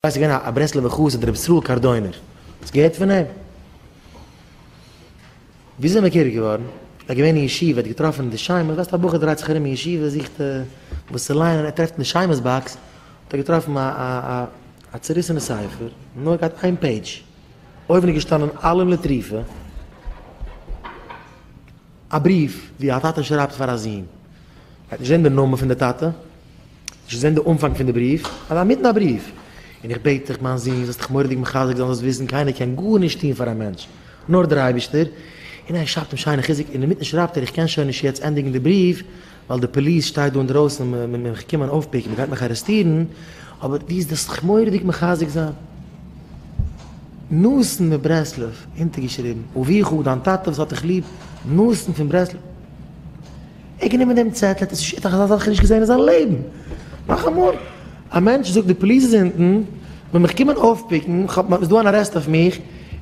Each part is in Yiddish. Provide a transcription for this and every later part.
ס'איז געווען א ברסלב'ער חסיד ר' ישראל קארדוינער, האסט געהערט פון אים? ווי איז ער מכיר געווארן? ער איז געווען אין ישיבה, ער האט געטראפן די שמש, ווייסט א בחור דרייט זיך ארום אין ישיבה זוכט וואס צו ליינען, ער טרעפט אין די שמש באקס האט ער געטראפן א א א א צוריסענע ספר, נאר געהאט איין פעידזש, אויבן איז געשטאנען אלם לטריפה. א בריוו ווי א טאטע שרייבט פאר א זון. מ'גייט נישט זען די נאמען פון די טאטע, נישט זען די אנפאנג פון די בריוו, אבער אינמיטן א בריוו. און איך בעט דיך מיין זון, זאלסט דיך מורא'דיג מחזק זיין, זאלסט וויסן קיינער קען גארנישט טון פאר א מענטש, נאר דער אייבערשטער. און ער שרייבט אים שיינע חיזוק, און אינמיטן שרייבט ער, איך קען שוין נישט יעצט ענדיגן די בריוו, ווייל די פאליס שטייט דא אינדרויסן און מען איז מיך געקומען אויפפיקן, מען גייט מיך ארעסטירן, אבער דו זאלסט זיך מורא'דיג מחזק זיין. נתן מברסלב, אונטערגעשריבן, אביך, דיין טאטע וואס האט דיך ליב, נתן פון ברסלב. ער האט גענומען דעם צעטל, ער האט עס נישט, ער האט אזא זאך נישט געזען אין זיין לעבן, נאכאמאל. א מענטש זאגט די פאליס איז אונטן ווען מיך קומען אויפפיקן, כ'האב, איז דא אן ארעסט אויף מיך,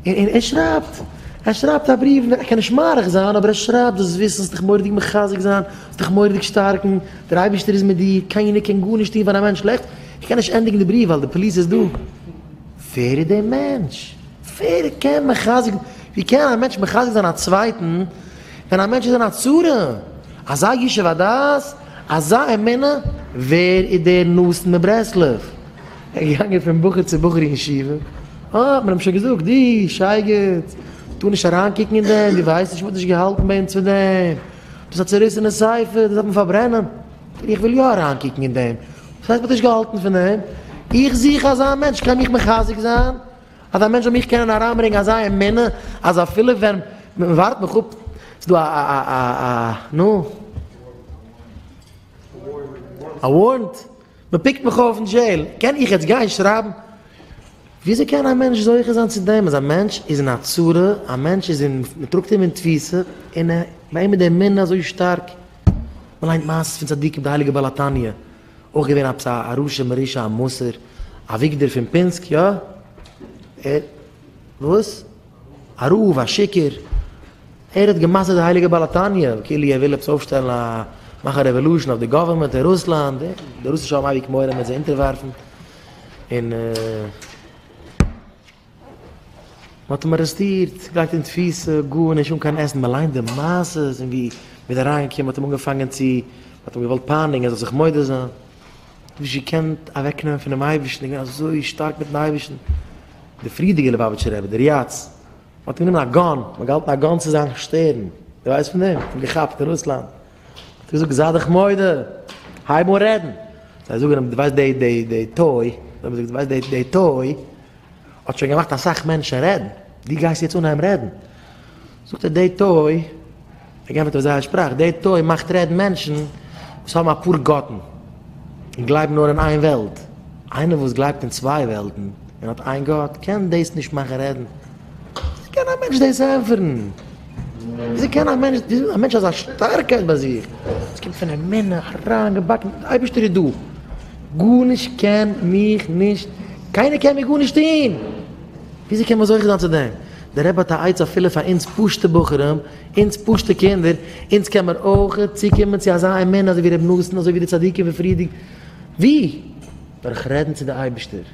און ער שרייבט, ער שרייבט א בריוו, ער קען נישט מאריך זיין אבער ער שרייבט דאס וויסן זאלסט דיך מורא'דיג מחזק זיין, זאלסט דיך מורא'דיג שטארקן, דער אייבערשטער איז מיט דיר, קיינער קען גארנישט טון פאר א מענטש שלעכטס, איך קען נישט ענדיגן די בריוו ווייל די פאליס איז דא, ווער איז דער מענטש? ווער קען מחזק, ווי קען א מענטש מחזק זיין א צווייטן ווען א מענטש איז אין א צרה, אזא ישוב הדעת? אזא אמונה? ווער איז דער נאסן מברסלב? ער איז געגאנגען פון בחור צו בחור אין ישיבה, אה, האט מען אים שוין געזאגט, די שייגעץ, טאר נישט אריינקוקן אין דעם, דו ווייסט נישט, מען האט נישט געהאלטן ביי אונז פון דעם, דאס איז א צעריסענע ספר, דאס דארף מען פארברענען. איך וויל יא אריינקוקן אין דעם, וואס הייסט מען האט נישט געהאלטן פון דעם? איך זוך אזא מענטש, קען מיך מחזק זיין? אז א מענטש זאל מיך קענען אריינברענגען אזא אמונה אז אפילו ווען מען ווארט מיך אפ ס'איז דא א נו א ווארענט מען פיקט מיך אויף אין דזשעיל קען איך יעצט גיין שרייבן וויאזוי קען א מענטש זוכה זיין צו דעם אז א מענטש איז אין א צרה א מענטש איז אין מען טראגט אים אין תפיסה און ביי אים איז די אמונה אזוי שטארק מען ליינט מעשות פון צדיקים די הייליגע בעל התניא אויך געווען עפעס א רשע מרושע א מסור אביגדור פון פינסק יא? ער וואס? א רב א שיכור? ער האט גע'מסר'ט די הייליגע בעל התניא כאילו ער וויל עפעס אויפשטעלן א מאכן רעוועלושען אויף די גאווערמענט אין רוסלאנד ער די רוסישע האבן אייביג מורא מען זיי אונטערווארפן און מען האט אים ארעסטירט, געלייגט אין תפיסה, גארנישט, אן קיין עסן, מען ליינט די מעשות און ווי מען איז אריינגעקומען, מען האט אים אנגעפאנגען צו, מען האט אים געוואלט פייניגן ער זאל זיך מודה זיין, האט נישט געקענט אוועקנעמען פונעם אייבערשטן, איז געווען אזוי שטארק מיטן אייבערשטן, דער פריערדיגער ליובאוויטשער רבי, דער יצ ל, מען האט אים גענומען א גאן, מען האט געהאלטן א גאן צו זיין שטערן, דו ווייסט פון דעם? מען האט אים געכאפט אין רוסלאנד, מען האט געזאגט זיי דיך מודה, הייב אן רעדן, זיי זאגן אים דו ווייסט די די די טוי, דו ווייסט די די טוי, האט שוין געמאכט אסאך מענטשן רעדן, דו גייסט יעצט אנהייבן רעדן? זאגט ער, די טוי, ער גענפערט אויף זייער שפראך, די טוי מאכט רעדן מענטשן וואס האבן אפאר גאטן, און גלייבן נאר אין איין וועלט, איינער וואס גלייבט אין צוויי וועלטן און האט איין גאט קען דאס נישט מאכן רעדן. וויאזוי קען א מענטש דאס ענפערן? וויאזוי קען א מענטש, וויאזוי א מענטש אזא שטארקייט ביי זיך, עס קומט פון אמונה אריינגעבאקן, דער אייבערשטער איז דא, גארנישט קען מיך נישט, קיינער קען מיר גארנישט טון, וויאזוי קען מען זוכה זיין צו דעם? דער רבי האט א עצה אפילו פאר אונז פשוטע בחורים, אונז פשוטע קינדער, אונז קען מען אויך צוקומען צו אזא אמונה אזוי ווי ר' נתן, אזוי ווי די צדיקים פון פריערדיגע, ווי? דורך רעדן צו דער אייבערשטער.